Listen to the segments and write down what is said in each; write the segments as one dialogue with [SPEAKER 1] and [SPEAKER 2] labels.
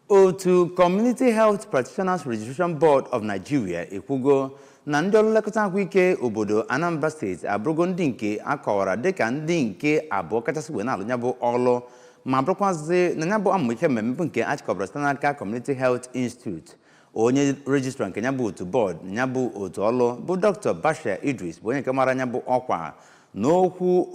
[SPEAKER 1] otu community health practitioners registration board of nigeria ekwugo na ndị ọrụ nlekọta ahụike obodo anambra state abụrụgo ndị nke a kọwara dịka ndị nke abụọ kachasị wee na-alụ ya bụ ọrụ ma bụrụkwazị na ya bụ amụma ihe mmemme nke achịkọbara site n'aka community health institute onye rejistra nke ya bụ otu board na ya bụ otu ọrụ bụ dr bashir idris bụ onye nke mara ya bụ ọkwa n'okwu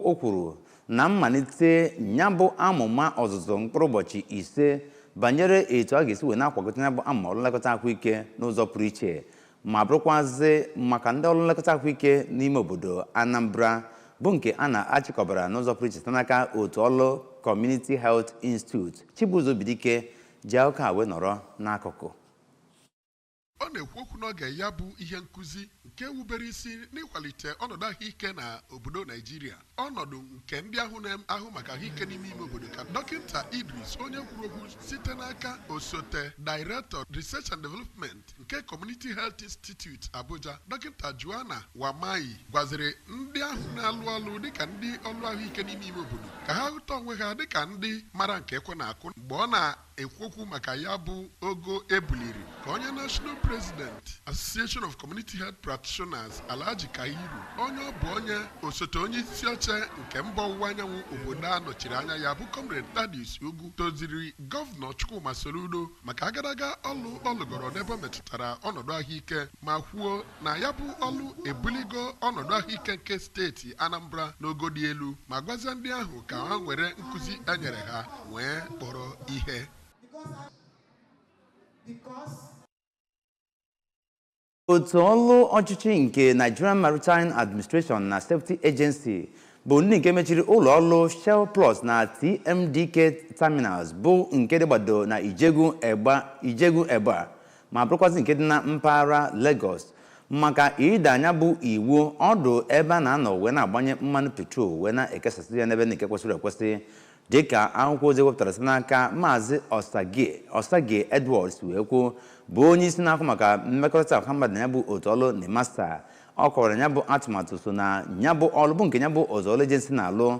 [SPEAKER 1] o kwuru na mmalite ya bụ amụma ọzụzụ mkpụrụ ụbọchị ise banyere etu a ga-esi wee na-akwagota ya bụ amụma ọrụ nlekọta ahụike n'ụzọ pụrụ iche ma bụrụkwazị maka ndị ọrụ nlekọta ahụike n'ime obodo Anambra bụ nke a na-achịkọbara n'ụzọ pụrụ iche site n'aka otu ọrụ Community Health Institute Chibuzo Obidike ji aka wee nọrọ n'akụkụ
[SPEAKER 2] Ọ na-ekwu okwu n'oge ya bụ ihe nkuzi nke wubere isi n'ịkwalite ọnọdụ ahụike na obodo Naijiria, ọnọdụ nke ndị ahụ na-ahụ maka ahụike n'ime ime obodo ka Dọkịta Idris onye kwuru okwu site n'aka osote Director Research and Development nke Community Health Institute Abuja, Dọkịta Joanna Wamayi gwaziri ndị ahụ na-alụ ọlụ dịka ndị ọlụ ahụike n'ime ime obodo ka ha hụta onwe ha dịka ndị mara nke ekwe na-akụ mgbe ọ na ekwu okwu maka ya bụ ogo e buliri ka onye National President Association of Community Health Practitioners Alhaji Kabiru onye ọ bụ onye osote onye isi oche nke mba ọwụwa anyanwụ obodo a nọchiri anya ya bụ Comrade Thaddeus Ugwu toziri gọvanọ Chukwuma Soludo maka agadaga ọlụ ọ lụgoro n'ebe o metụtara ọnọdụ ahụike ma kwuo na ya bụ ọlụ ebuligo ọnọdụ ahụike nke steeti Anambra n'ogo dị elu ma gwazie ndị ahụ ka ha were nkụzi e nyere ha wee kpọrọ ihe
[SPEAKER 1] otu ọrụ ọchịchị nke Nigerian Maritime Administration na Safety Agency bụ ndị nke mechiri ụlọ ọrụ Shellplux na TMDK Terminals bụ nke dịgbado na Ijegun Egba ma bụrụkwazị nke dị na mpaghara Lagos maka ịda ya bụ iwu ọdụ ebe a na-anọ wee na-agbanye mmanụ petrol wee na-ekesasị ya n'ebe nke kwesịrị ekwesị dịka akwụkwọ ozi e wepụtara site n'aka maazị Osagie Osagie Edward si wee kwuo bụ onye isi na-ahụ maka mmekọrịta ọha mmadụ na ya bụ otu ọlụ NIMASA ọ kọwara ya bụ atụmatụ so na ya bụ ọlụ bụ nke ya bụ otu ọlụ agency na-alụ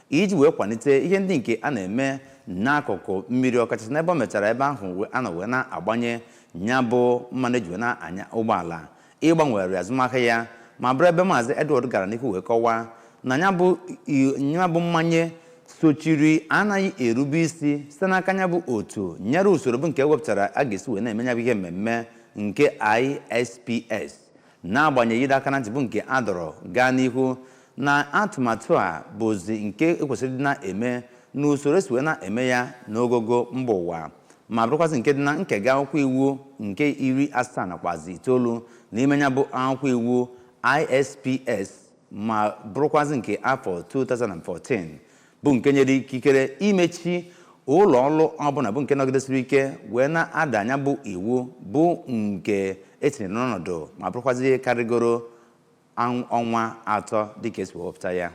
[SPEAKER 1] iji wee kwalite ihe ndị nke a na-eme n'akụkụ mmiri ọkachasị n'ebe o metụtara ebe ahụ a nọ wee na-agbanye ya bụ mmanụ e ji wee na-anya ụgbọala ịgbanwere azụmahịa ya ma bụrụ ebe maazị Edward gara n'ihu wee kọwaa na ya bụ i- ya bụ mmanye sochiri anaghị erube isi site n'aka ya bụ otu nyere usoro bụ nke e wepụtara a ga-esi wee na-eme ya bụ ihe mmemme nke ISPS N'agbanyeghị ịdọ aka na ntị bụ nke a dọrọ gaa n'ihu na atụmatụ a bụzi nke ekwesịrị ịdị na-eme n'usoro esi wee na-eme ya n'ogogo mba ụwa ma bụrụkwazị nke dị na nkega akwụkwọ iwu nke iri asaa nakwazi itoolu n'ime nya bụ akwụkwọ iwu ISPS ma bụrụkwazị nke afọ 2014 bụ nke nyere ikikere imechi ụlọ ọrụ ọbụla bụ nke nọgidesiri ike wee na-ada nya bụ iwu bụ nke etinyere n'ọnọdụ ma bụrụkwazị ihe karịgoro ọnwa atọ dịka esi wepụta ya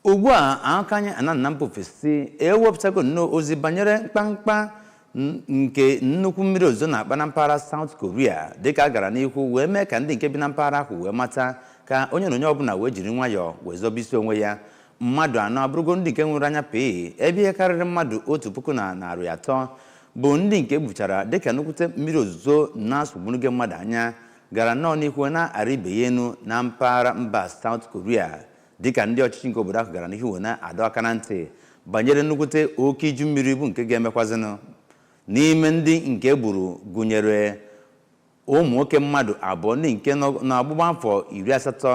[SPEAKER 1] ugbu a aka anyị ana na mba ofesi ewepụtago nnọọ ozi banyere mkpamkpa n- nke nnukwu mmiri ozuzo na-akpa na mpaghara South Korea dịka a gara n'ihu wee mee ka ndị nke bi na mpaghara ahụ wee mata ka onye na onye ọbụla wee jiri nwayọọ wee zobe isi onwe ya mmadụ anọ abụrụgo ndị nke nwụrụ anya pee ebe ihe karịrị mmadụ otu puku na narị atọ bụ ndị nke buchara dịka nnukwute mmiri ozuzo na-asụgburugo mmadụ anya gara nnọọ n'ihu na-arị ibe ya enu na mpaghara mba South Korea dịka ndị ọchịchị nke obodo ahụ gara n'ihu wee na-adọ aka na ntị banyere nnukwute oke iju mmiri bụ nke ga-emekwazinụ n'ime ndị nke gburu gụnyere ụmụ nwoke mmadụ abụọ ndị nke nọ n'ọgbụgba afọ iri asatọ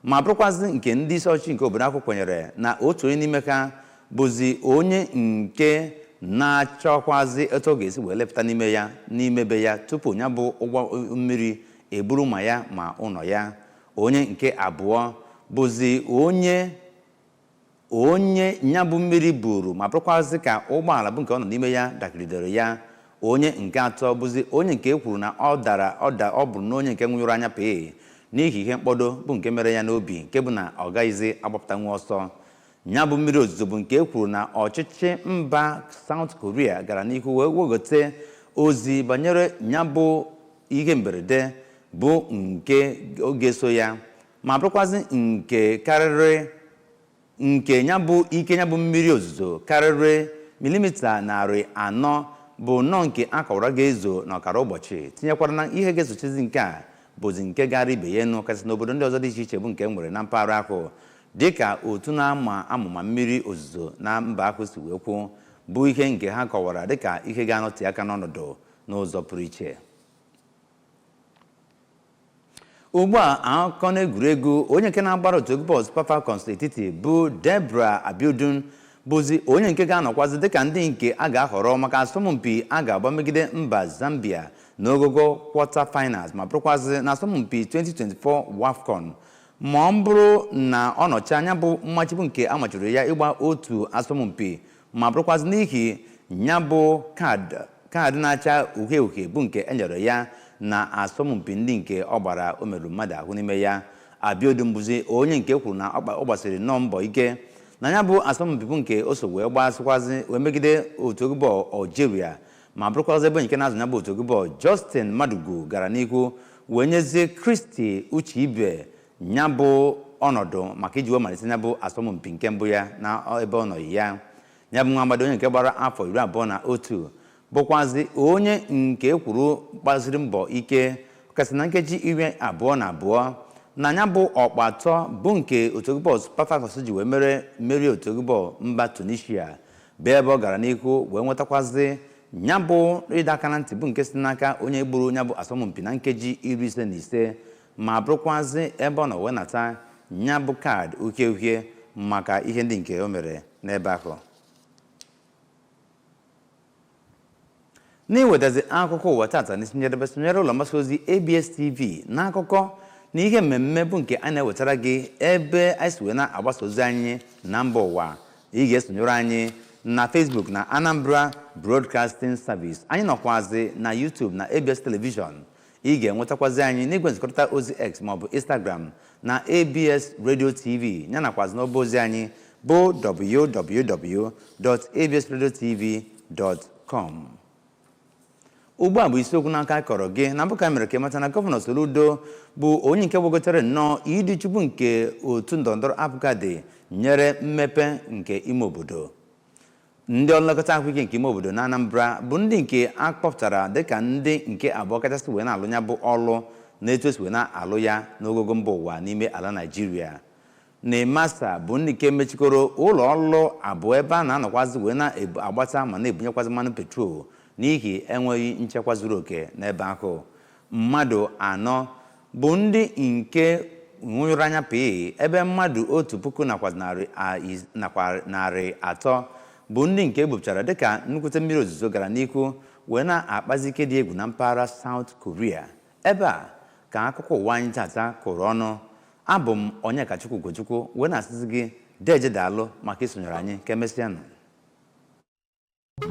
[SPEAKER 1] ma bụrụkwazị nke ndị isi ọchịchị nke obodo ahụ kwenyere na otu onye n'ime ha bụzi onye nke na-achọkwazi etu ọ ga-esi wee lepụta n'ime ya n'ime be ya tupu nya bụ ụba mmiri eburu ma ya ma ụlọ ya onye nke abụọ bụzi onye onye nya bụ mmiri buru ma bụrụkwazị ka ụgbọala bụ nke ọ nọ n'ime ya dakịrịdere ya onye nke atọ bụzi onye nke e kwuru na ọ dara ọda ọ bụrụ na onye nke nwụnyụrụ anya pee n'ihi ihe mkpọdo bụ nke mere ya n'obi nke bụ na ọ gaghịzi agbapụtanwu ọsọ nya bụ mmiri ozuzo bụ nke e kwuru na ọchịchị mba South Korea gara n'ihu wee wegote ozi banyere nya bụ ihe mberede bụ nke oge so ya ma bụrụkwazị nke karịrị nke ya ike ya bụ mmiri ozuzo karịrị milimita narị anọ bụ nnọọ nke a kọwara ga-ezo n'ọkara ụbọchị tinyekwara na ihe ga-esochizi nke a bụzi nke ga-arị ibe ya enu kasị n'obodo ndị ọzọ dị iche iche bụ nke nwere na mpaghara ahụ dịka otu na-ama amụma mmiri ozuzo na mba ahụ si wee kwuo bụ ihe nke ha kọwara dịka ihe ga-anọte aka n'ọnọdụ n'ụzọ pụrụ iche ugbu a akụkọ n'egwuregwu onye nke na-agbara otu egwu bọọlụ Super Falcons etiti bụ Deborah Abiodun bụzi onye nke ga-anọkwazi dịka ndị nke a ga-ahọrọ maka asọmpi a ga-agba megide mba Zambia n'ogogo quarter finals ma bụrụkwazị na asọmpi 2024 WAFCON ma ọ bụrụ na ọ nọchi nya bụ mmachibu nke amachiri ya ịgba otu asọmpi ma bụrụkwazị n'ihi ya bụ kaadị na-acha uhie uhie bụ nke e nyere ya na asọmpi ndị nke ọ gbara o merụrụ mmadụ ahụ n'ime ya Abiodun bụzi onye nke kwuru na ọ gbasiri nnọọ mbọ ike na ya bụ asọmpi bụ nke o so wee gbasịkwazị wee megide otu egwu bọọlụ Algeria ma bụrụkwazị ebe nke na-azụ ya bụ otu egwu bọọlụ Justin Madugu gara n'ihu wee nyezie Christy Ucheibe ya bụ ọnọdụ maka iji wee malite ya bụ asọmpi nke mbụ ya na ebe ọ nọghị ya ya bụ nwa agbọghọ onye nke gbara afọ iri abụọ na otu bụkwazi onye nke kwuru gbaziri mbọ ike kasị na nkeji iri abụọ na abụọ na ya bụ ọkpa atọ bụ nke otu egwu bọọlụ Super Falcons ji wee merie otu egwu bọọlụ mba Tunisia bụ ebe ọ gara n'ihu wee nwetakwazị ya bụ ịdọ aka na ntị bụ nke si n'aka onye gburu ya bụ asọmpi na nkeji iri ise na ise ma bụrụkwazị ebe ọ nọ wee nata ya bụ kaadị uhie uhie maka ihe ndị nke o mere n'ebe ahụ n'iwetazi akụkọ ụwa tata n'isi njedebe sonyere ụlọ mgbasa ozi abs tv n'akụkọ na ihe mmemme bụ nke a na-ewetara gị ebe anyị si wee na-agbasa ozi anyị na mba ụwa ị ga-esonyere anyị na facebook na anambra broadcasting service anyị nọkwazi na youtube na abs television ị ga-enwetakwazi anyị n'igwe nzikọrịta ozi x maọbụ instagram na abs radio tv ya nakwazi n'ọba ozi anyị bụ www.absradiotv.com ugbu a bụ isiokwu n'aka akọrọ gị na mbụ ka e mere ka ị mata na gọvanọ Soludo bụ onye nke gbagotere nnọọ ịdị uchu nke otu ndọrọndọrọ APGA dịnyere mmepe nke ime obodo ndị ọlụ nlekọta ahụike nke ime obodo na Anambra bụ ndị nke a kpọpụtara dịka ndị nke abụọ kachasị wee na-alụ ya bụ ọlụ na etu e si wee na-alụ ya n'ogogo mba ụwa n'ime ala Naịjirịa NIMASA bụ ndị nke mechikọrọ ụlọ ọrụ abụọ ebe a na-anọkwazị wee na-agbata ma na-ebunyekwazi mmanụ petrol n'ihi enweghị nchekwa zuru oke n'ebe ahụ mmadụ anọ bụ ndị nke nwụnyụrụ anya pịị ebe mmadụ otu puku nakwa narị atọ bụ ndị nke e bupụchara dịka nnukwute mmiri ozuzo gara n'ihu wee na-akpazi ike dị egwu na mpaghara South Korea ebe a ka akụkọ ụwa anyị tata kụrụ ọnụ abụ m Onyekachukwu Ugochukwu wee na-asịzi gị deje daalụ maka isonyere anyị ka emesịanụ